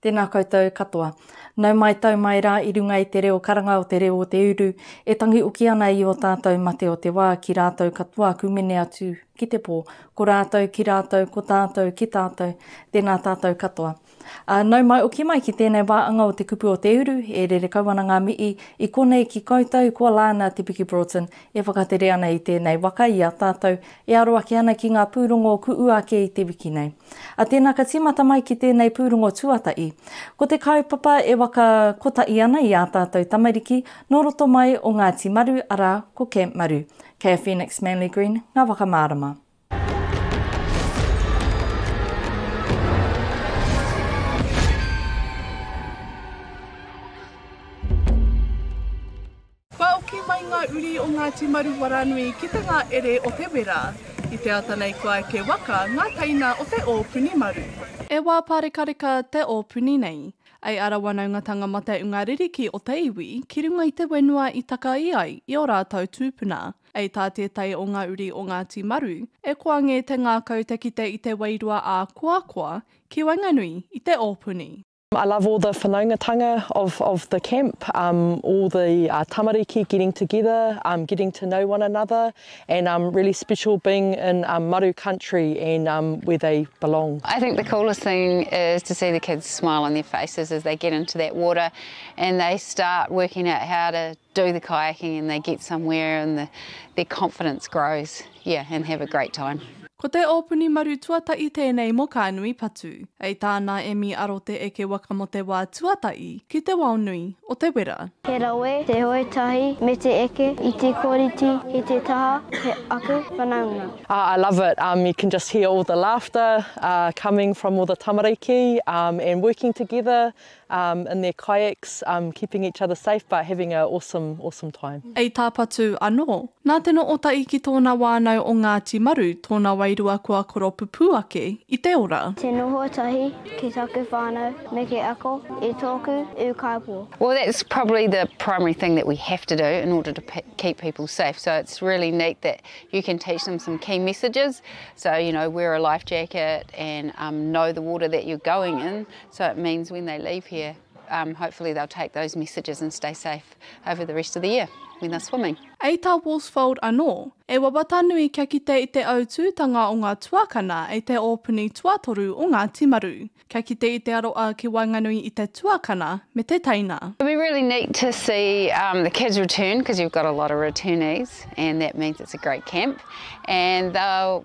Tēnā koutou katoa. Nau mai tau mai rā i runga i te reo karanga o te reo o te uru, e tangi uki ana i o tātou mate o te wā ki rātou katoa aku mene atu ki te pō, ko rātou ki rātou, ko tātou ki tātou, tēnā tātou katoa. Ā, nau mai oki mai ki tēnei wāanga o te kupu o te uru, e rere kau ana ngā mihi i konei ki koutou kua Lana Te Piki Broughton e whakatere ana i tēnei waka i a tātou e aro ake ana ki ngā pūrongo kuʻu ake i te wiki nei. Ā, tēnā ka tīmata mai ki tēnei pūrongo tuatahi. Ko te kaupapa e waka kotahi ana i ā tātou tamariki nō roto mai o Ngāti Maru, arā, ko Camp Maru. Kei a Phoenix Manly Green ngā waka mārama. Kua oki mai ngā uri o Ngāti Maru Waranui ki te ngā ere o te wera. I te ata nei kua eke waka ngā teina o te ōpuni maru. E wā pārekareka te ōpuni nei. I ara wanaungatanga mate unga ririki o te iwi ki runga i te wenua i takai ai i o rātou tūpuna. Ei tā tētahi o ngā uri o Ngāti Maru, e koa ngē te ngākau te kite i te wairua ā-koakoa ki waenganui i te ōpuni. I love all the whanaungatanga of of the camp um all the uh tamariki getting together um getting to know one another and um really special being in um maru country and um where they belong. I think the coolest thing is to see the kids smile on their faces as they get into that water and they start working out how to do the kayaking and they get somewhere and the their confidence grows yeah and have a great time. Ko te ōpuni maru tuataʻi tēnei mō kā nui patu. Hei tā nā Emmy Aro Te Eke Waka mō te wā tuataʻi ki te wao nui o te wera. He rawe, te hoe tahi me te eke i te kōriti i te taha he aku whanaunga. Ah I love it um you can just hear all the laughter uh coming from all the tamariki um and working together in their kayaks keeping each other safe but having a awesome awesome time. I Tāpatu anō, nā Te Nootai ki tōna wānau o Ngāti Maru tōna wairua kua koropupū ake i te ora. Te noho tahi ki taku whānau me te ako i tōku ūkaipō. Well that's probably the primary thing that we have to do in order to keep people safe so it's really neat that you can teach them some key messages so you know wear a life jacket and know the water that you're going in So it means when they leave here, um, hopefully they'll take those messages and stay safe over the rest of the year when they're swimming. Ei tā Worsfold anō, e wawata nui kia kite i te autūtanga o ngā tuakana i te ōpuni tuatoru o ngā timaru, kia kite i te aroa ki waenganui i te tuakana me te teina. It'll be really neat to see um, the kids return because you've got a lot of returnees and that means it's a great camp and they'll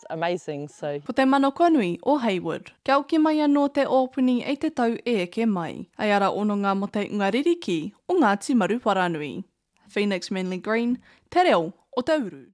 just amazing so. Ko te manakonui o Heywood. Kia oki mai anō te ōpuni ei te tau e eke mai. Ei ara ononga mo te unga ririki o Ngāti Maruwharanui. Phoenix Manly Green, te reo o te uru.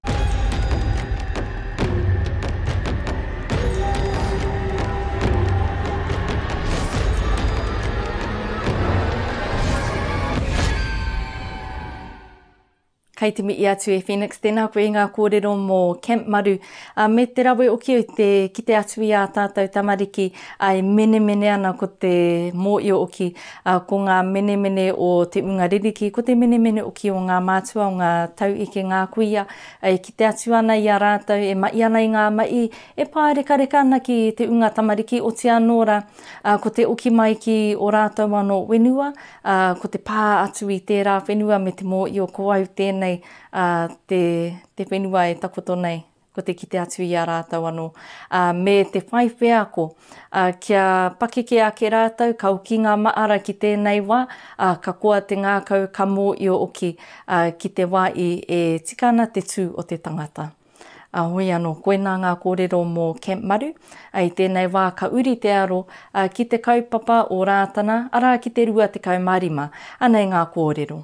Kei te mihi atu e Phoenix, tēnā koe i ngā kōrero mō Camp Maru, ā, me te rawe o ki au te kite atu i ā tātou tamariki, ā, e menemene ana ko te mōio o ki, ā, ko ngā menemene o te ūnga ririki, ko te menemene o ki o ngā mātua, o ngā tauike, ngā kuia, ā, e kite atu ana i a rātou, e mahi ana i ngā mahi, e pārekareka ana ki te ūnga tamariki, otianō rā, ā, ko te oki mai ki ō rātou anō whenua, ā, ko te pā atu i tērā whenua me te mōio ko au tēnei, ā, te, te whenua e takoto nei, ko te kite atu i a rātou anō, ā, me te whai wheako, ā, kia pakeke ake rātou, ka oki ngā maara ki tēnei wā, ā, ka koa te ngākau, ka mōio oki, ā, ki te wā i e tika ana te tū o te tangata. Ā, hoi anō, koinā ngā kōrero mō Camp Maru. Ā, i tēnei wā ka uri te aro, ā, ki te kaupapa o Rātana, arā, ki te 25. Anei ngā kōrero.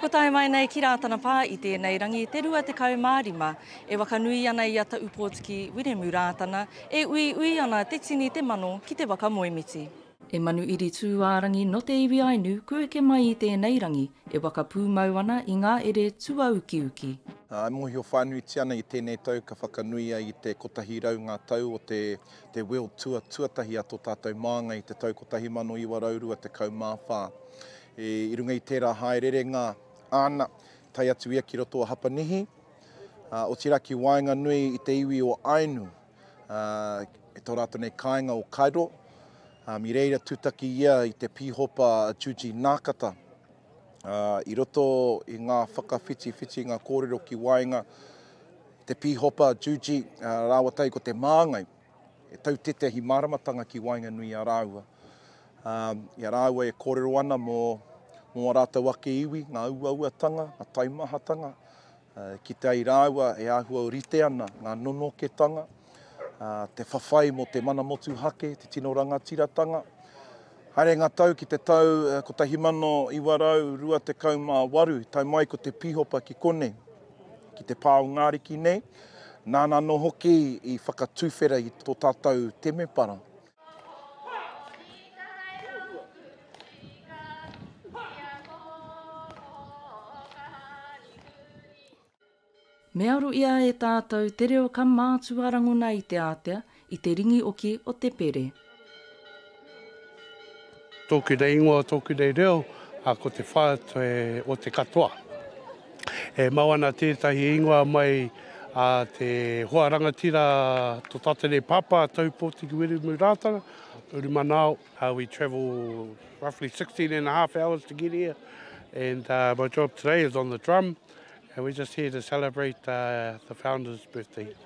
Kua tae mai nei ki Rātana Pā i tēnei rangi te 25 e wakanui ana i a Taupōtiki Wiremu Rātana, e uiui ana te tini te mano ki te waka moemiti. E manu iri tūārangi no te iwi Ainu ku eke mai i tēnei rangi e waka pūmau ana i ngā ere tuaukiuki. E mōhio whānuitia ana i tēnei tau ka whakanui ai i te 100 ngā tau o te te World Tour tuatahi a tō tātou māngai i te tau 1924. I runga i tērā hāererenga āna, tae atu ia ki roto o Hapanihi, ā, otirā ki waenganui i te iwi o Ainu, ā, i tō rātou nei kāinga o Cairo, ā, i reira tūtaki ia i te pīhopa a Juji Nākata, ā, i roto i ngā whakawhitiwhitinga kōrero ki waenga i te pīhopa Juji, ā, rāua tahi ko te māngai. e tau tētahi māramatanga ki waenganui i a rāua, ā, i a rāua e kōrero ana mō, mō ā rātou ake iwi, ngā uauatanga, ngā taimahatanga, ā, ki te ai rāua e āhua rite ana ngā nonoketanga, ā, te whawhai mō te mana motuhake, te tino rangatiratanga. Haere ngā tau ki te tau 1928, tae mai ko te pīhopa ki konei. ki te pā o Ngā Riki nei, nāna anō hoki i whakatuwhera i tō tātou temepara. Me aro ia e tātou te reo ka mātua rangona i te ātea, I te ringi oki o te pere. Tōku nei ingoa, tōku nei reo, ā, ko te whā te, o te katoa. E mau ana tētahi ingoa mai a te hoa rangatira to tatene pāpā, Taupōtiki Wiremu Rātana, uru manaao. We travel roughly 16 and a half hours to get here and my job today is on the drum and we're just here to celebrate the founder's birthday.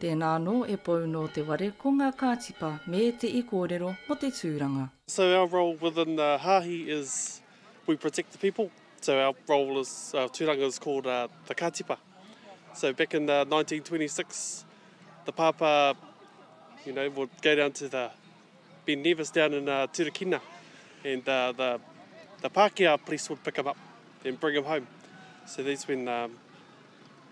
Tēnā anō e Pou nō te ware ko ngā kātipa me te i kōrero mō te tūranga. So our role within the Haahi is we protect the people, so our role is, our turanga is called the Katipa. So back in 1926 the Pāpā you know would go down to the Ben Nevis down in Turakina and the the Pākehā police would pick him up and bring him home. So that's when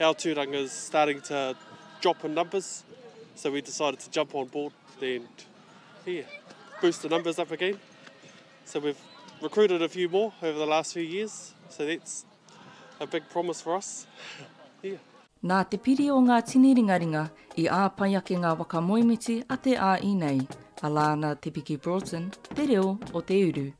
Our tūranga's starting to drop in numbers, so we decided to jump on board and yeah, boost the numbers up again. So we've recruited a few more over the last few years, so that's a big promise for us. yeah. Nā te piri o ngā tini ringaringa i āpai ake ngā waka moemiti a te ā-i nei, a Lana Te Piki Broughton, Te Reo o te Uru.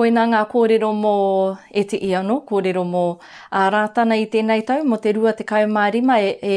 Koina ngā kōrero mō Eti Iano, kōrero mō a Rātana i tēnei tau, mō te 25 e, e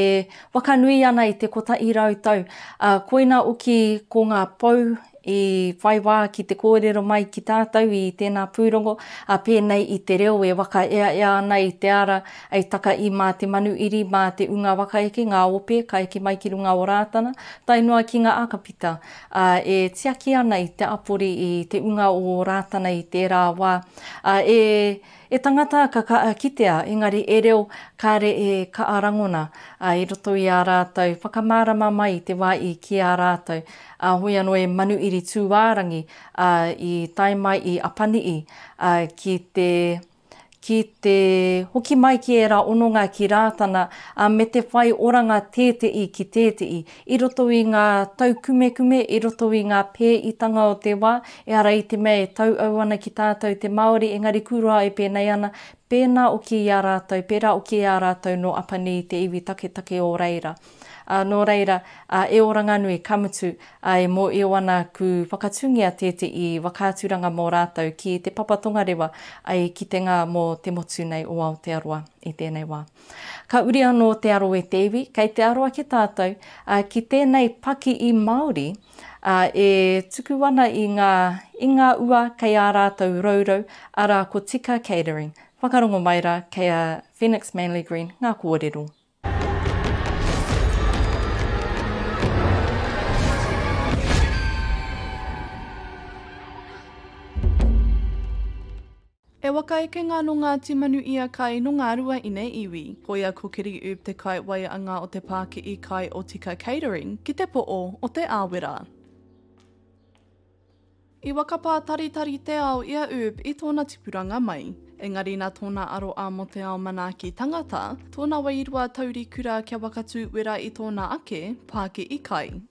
wakanui ana i te kotahi rau tau. A, koina uki ko ngā pou i whai wā ki te kōrero mai ki tātou i tēnā pūrongo, ā, pēnei i te reo e whakaeaea ana i te ara i taka i mā te manu iri, mā te ūnga wakaeke, ngā ope ka eke mai ki runga o Rātana, tae noa ki ngā akapita, ā, e tiaki ana i te apori i te ūnga o Rātana i tērā wā, ā, e. E tangata ka kaa kitea engari e reo kare e kaa rangona a i roto i a ratou whakamaarama mai i te wa i ki a ratou a hoi ano e Manuiri Tuuaarangi a i tae mai i Apanui a ki te ki te hoki mai ki era ononga ki Raatana a me te whai oranga teetei ki teetei i roto i ngā taukumekume, i roto i ngā pēitanga o te wā, ehara i te mea e tauau ana ki tātou te Māori, engari kūroa e pēnei ana, pēnā oki i a rātou, pērā oki i a rātou nō Apanī i te iwi taketake o reira. Ā, nō reira, ā, e Oranganui, ka mutu, ā, e mōio ana ku whakatungia tēteʻi whakaaturanga mō rātou ki te papa tongarewa, ai, kitenga mō te motu nei o Aotearoa i tēnei wā. Ka uri anō te aro e te iwi, kei te aro ake tātou ki tēnei paki i Māori e tuku ana i ngā i ngā ua kei ā rātou rourou, arā ko Tika Catering. Whakarongo mai rā kei a Phoenix Manly Green ngā kōrero. He waka ekenga nō Ngāti Manu ia kai nō ngā rua ine iwi. Koia ko Kiri Ub te kai waianga o te pāki'i kai o Tika Catering ki te po'o o Te Awera. I whakapātaritari te ao i a Ub i tōna tipuranga mai. Engari nā tōna aroa mō te ao manaaki tangata, tōna wairua taurikura kia wakatū wera i tōna ake pāki'i kai.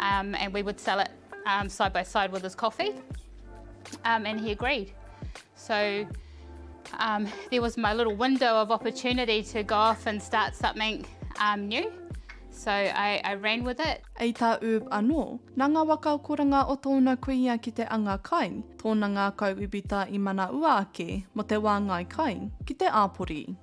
Um, and we would sell it um, side by side with his coffee. Um, and he agreed. So um, there was my little window of opportunity to go off and start something um, new. So I, I ran with it. Ei tā Ub anō, nā ngā waka koranga o tōna kuia ki te anga kai, tōna ngākau ubita i mana ua ake mo te wāngai kai ki te āpori.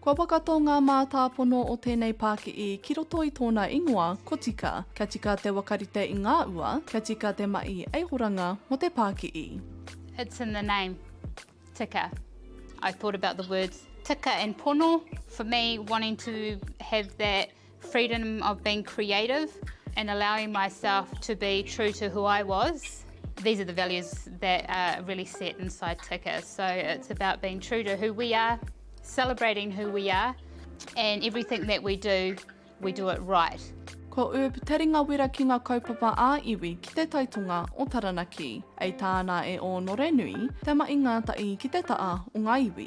Kua whakatō ngā mātāpono o tēnei pāki'i ki roto i tōna ingoa, ko tika, kia tika te wakarite i ngā ua, kia tika te mahi eihoranga mō te pāki'i. It's in the name, tika. I thought about the words tika and pono, for me wanting to have that freedom of being creative and allowing myself to be true to who I was, these are the values that are really set inside TICA, so it's about being true to who we are, celebrating who we are and everything that we do, we do it right. Ko Urb te ringa wera ki ngā kaupapa ā-iwi ki te taitonga o Taranaki. Ei tāna e Ōnorenui, te maʻi ngātaʻi ki te taʻa o ngā iwi.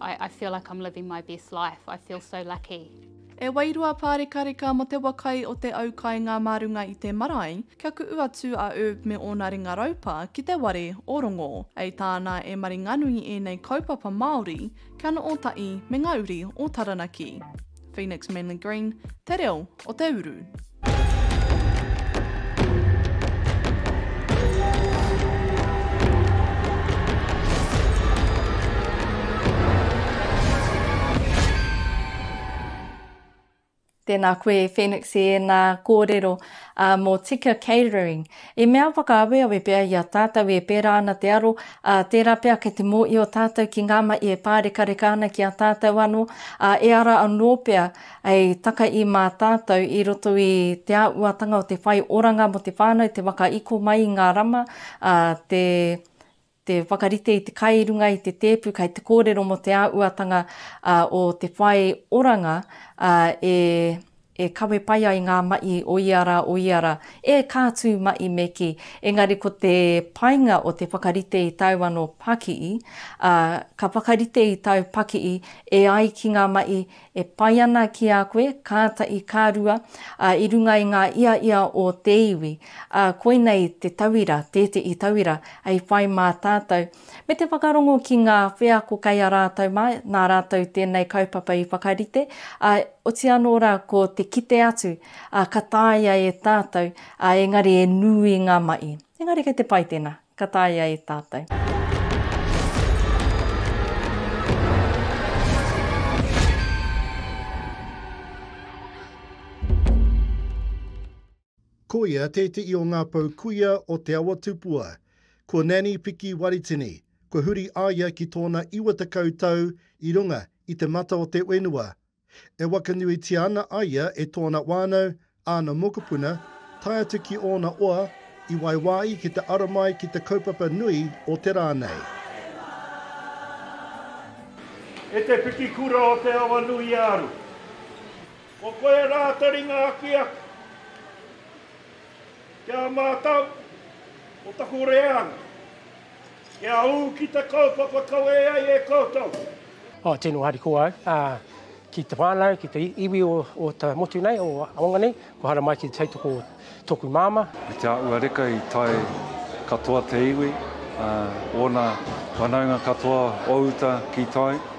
I, I feel like I'm living my best life, I feel so lucky. E wairua pārekareka mo te wa kai o te au kainga mā runga i te marae, kia kuʻu atu a Erb me ōna ringa raupa ki te ware o Rongo. Hei tāna e Maringanui ēnei kaupapa Māori kia noo taʻi me ngā uri o Taranaki. Phoenix Manly Green, Te Reo o te Uru. Tēnā koe Phoenix e nā kōrero uh, mō Tika Catering. I mea whakaaweawe pea i a tātou e pērā ana te aro, ā, tērā pea kei te mōhio tātou ki ngā mahi e pārekareka ana ki a tātou anō, ā, e ara anō pea hei takahi mā tātou i roto i te āhuatanga o te whai oranga mō te whānau, te whakaiko mai i ngā rama, ā, te te whakarite i te kai i runga i te tēpu kai te kōrero mō te āuatanga o te whai oranga e kawe pai ai ngā maʻi o ia rā, o ia rā, e ka tū maʻi me kī. Engari ko te painga o te whakarite i tāu anō pakii, ka whakarite i tāu pakii e ai ki ngā maʻi, e pai ana ki a koe, kāta i kā rua, ā, i runga i ngā iaia o te iwi, ā, koinei te tauira, tēteʻi tauira, hei whai mā tātou, me te whakarongo ki ngā wheako kei a rātou mā, nā rātou tēnei kaupapa i whakarite, ā, oti anō rā ko te kite atu, ā, ka tāia e tātou, ā, engari e nui ngā maʻi. Engari kei te pai tēnā. Ka taea e tātou. Koia tēteʻi o ngā pou kuia o Te Awa Tupua. Ko Nanny Piki Waritini, kua huri a ia ki tōna 90 tau i runga i te mata o te whenua E wakanuitia ana a ia e tōna whānau, āna mokopuna, tae atu ki ōna oa, i waiwāi ki te ara mai ki te kaupapa nui o te rā nei. E te Pikikura o Te Awanuiāru, ko koe a Rātaringa Akiaki, ki a mātou, ko taku reanga. Kia ū ki te kaupapa kawe ai e koutou. Ā, tino harikoa au, ā, ki te whānau, ki te iwi o, o te motu nei, o Aonga nei, kua hara mai ki te tautoko o tōku māmā. I te āhua reka i tae katoa te iwi, ā, ōna whanaunga katoa o uta ki tai.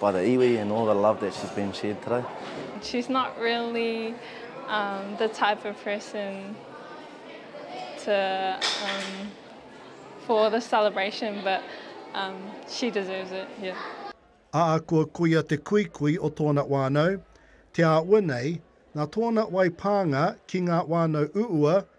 By the iwi and all the love that she's been shared today. She's not really um, the type of person to um, for the celebration, but um, she deserves it. Yeah. Ahakoa koia te kuikui o tōna whānau, te āhua nei, nā tōna wai pānga ki ngā whānau uua,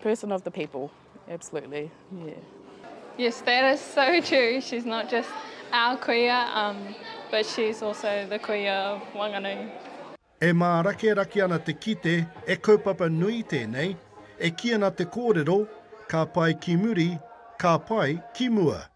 Person of the people, absolutely, yeah. Yes, that is so true. She's not just our kuia, um, but she's also the kuia of Wanganui. E mārakerake ana te kite, e kaupapa nui tēnei, e kī ana te kōrero, ka pae ki muri, ka pae ki mua.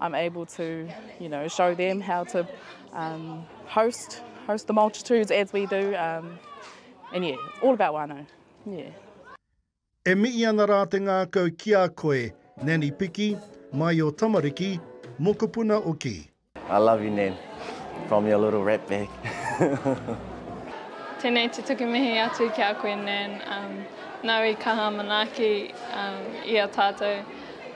I'm able to, you know, show them how to um, host host the multitudes as we do. Um, and yeah, all about wānau. Yeah. E mihi ana rā te ngākau ki a koe, Nanny Piki, mai o Tamariki, mokopuna o Ki. I love you, Nan, from your little rat bag. Tēnei te tuku mihi atu ki a koe, Nan. Um, nau i kaha manaaki um, i a tātou.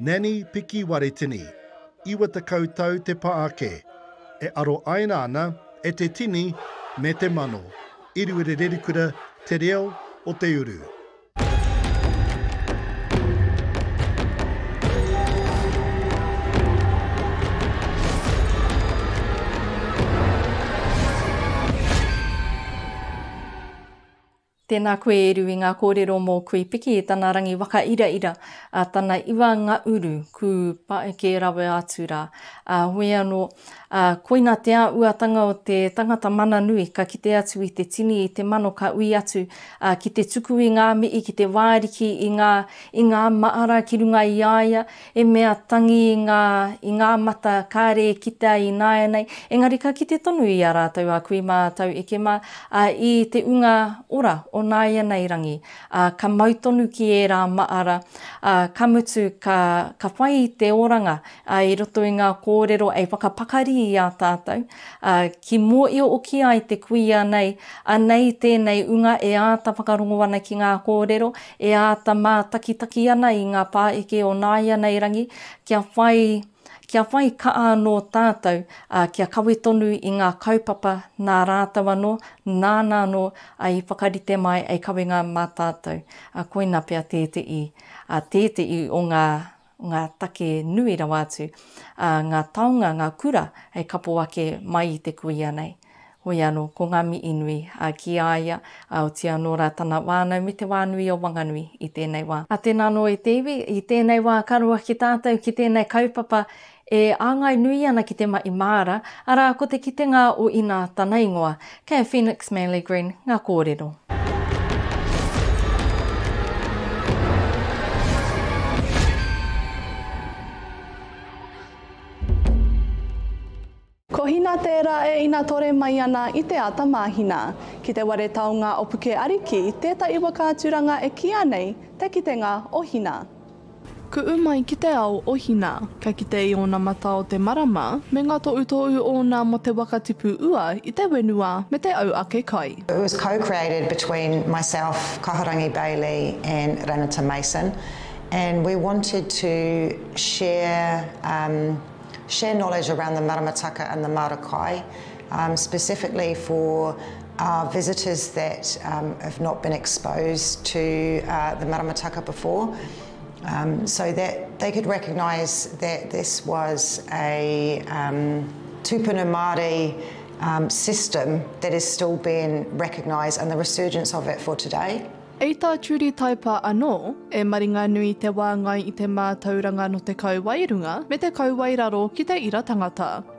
Nanny Piki Waretini, 90 tau te pa ake, e aro aina ana e te tini me te mano i Ruerererikura te reo o te uru. Tēnā koe e Ru i ngā kōrero mō Kuipiki, tana rangi waka ira ira, a tana iwa nga uru, kū pae kē rawe atu rā. A hoi anō, a koina te a uatanga o te tangata mana nui ka kite atu i te tini i te mano ka ui atu, a ki te tuku i ngā mihi ki te wāriki i ngā i ngā maara ki runga i a ia, He mea tangi ngā i ngā mata kāre e kitea i nāianei, engari ka kite tonu i a rātou a kui mā tau eke mā, ā, i te unga ora o nāianei rangi, ā, ka mau tonu ki ērā māra, ā, ka mutu ka, ka whai te oranga, ā, i roto i ngā kōrero e whakapakari i a tātou, ā, ki mōio oki ai te kuia nei, anei tēnei unga e āta whakarongo ana ki ngā kōrero, E āta mātakitaki ana i ngā pāeke o nāianei rangi, kia whai, kia whai ka'a anō tātou, ā, kia kawe tonu i ngā kaupapa nā rātou anō, nāna anō i whakarite mai hei kawenga mā tātou. Koina pea tēte'i, tēte'i o ngā ngā take nui rawa atu, ā, ngā taonga, ngā kura hei kapo ake mai i te kuia nei. Hoi anō, ko ngā mihi nui ki a ia, ā, otiia anō rā tana whānau me te whānui o Wanganui i tēnei wā. Ā, tēnā anō e te iwi, i tēnei wā ka roa ki tātou ki tēnei kaupapa e āngai nui ana ki te mahi māra, arā, ko te kitenga o inā tana ingoa. Kei a Phoenix Manley Green ngā kōrero. Ko Hina tērā e inatore mai ana i te ata māhina. Ki te ware taonga o Puke Ariki tētahi waka aturanga e kīia nei Te Kitenga o Hina. Kuʻu mai ki te ao o Hina. Ka kite i ōna matā o te marama, me ngā toʻutoʻu ōna mō te waka tipu ua i te whenua me te au ake kai. It was co-created between myself, Kahurangi Bailey and Ranata Mason and we wanted to share share knowledge around the maramataka and the marakai Um, specifically for uh, visitors that um, have not been exposed to uh, the maramataka before, um, so that they could recognise that this was a um, tupuna Māori um, system that is still being recognised and the resurgence of it for today. I tā Judy Taipa anō, e maringanui te wāngai i te mātauranga no te kauwae runga me te kauwae raro ki te ira tangata.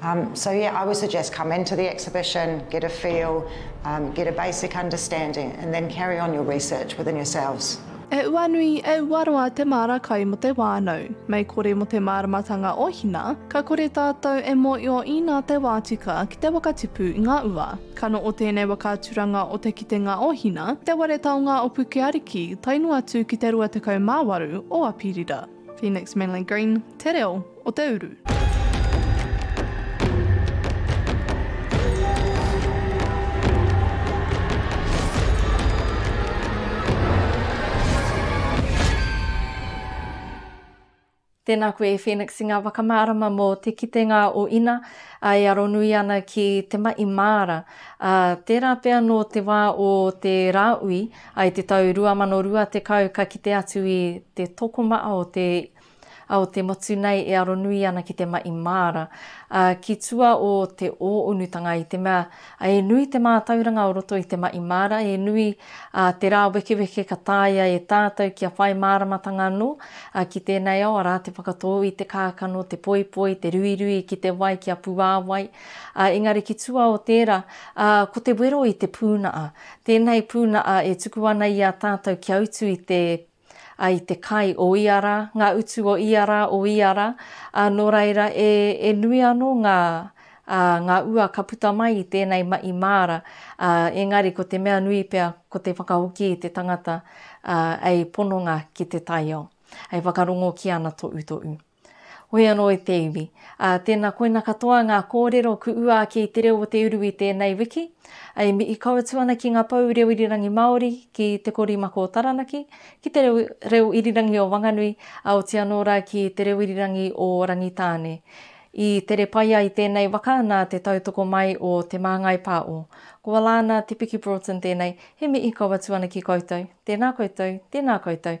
Um so yeah I would suggest come into the exhibition, get a feel, um get a basic understanding and then carry on your research within yourselves. E uanui, e uaroa te māra kai mo te wānau. Mei kore mo te māramatanga o Hina, ka kore tātou e mōio ina te wā tika ki te whakatipu i ngā ua. Kano o tēnei waka aturanga o te kitenga o Hina, te ware taonga o Pukeariki, tae noa atu ki te 28 o Apirira. Phoenix Manly Green, te reo o te uru. Tēnā koe e Phoenix i ngā whakamārama mō te kitenga o Ina e aronui ana ki te maʻi māra. Tērā pea nō te wā o te Rāui, I te tau 2020 ka kite atu i te tokomaha o te o te motu nei e aronui ana ki te mahi māra, ā, ki tua o te ō-unutanga i te mea e nui te mātauranga o roto i te mahi māra, e nui ā te rāwekeweke ka taea e tātou kia whai māramatanga anō, ā, ki tēnei ao arā te whakatō i te kākano, te poipoi, te ruirui ki te wai kia puāwai, ā, engari ki tua o tērā, ā, ko te wero i te pūnaha. Tēnei pūnaha e tuku ana i a tātou kia utu i te, a, i te kai o ia rā, ngā utu o ia rā, o ia rā, ā, nō reira, e, e nui anō ngā, ā, ngā ua ka puta mai i tēnei mahi māra, ā, engari ko te mea nui pea ko te whakahoki i te tangata, ā, hei pononga ki te taiao, hei whakarongo ki ana toʻutoʻu. Hoi anō i te iwi. Ā, tēnā koina katoa ngā kōrero ku ua ake i te reo o te uru i tēnei wiki. E mihi kau atu ana ki ngā pou reo irirangi Māori, ki Te Korimako o Taranaki, ki te reo, reo irirangi o Wanganui, ā, oti anō rā ki te reo irirangi o Rangitāne. I tere pai ai tēnei waka nā te tautoko mai o Te Māngai Pā'o. Ko Alana Te Piki Broughton tēnei, he mihi kau atu ana ki koutou. Tēnā koutou, tēnā koutou,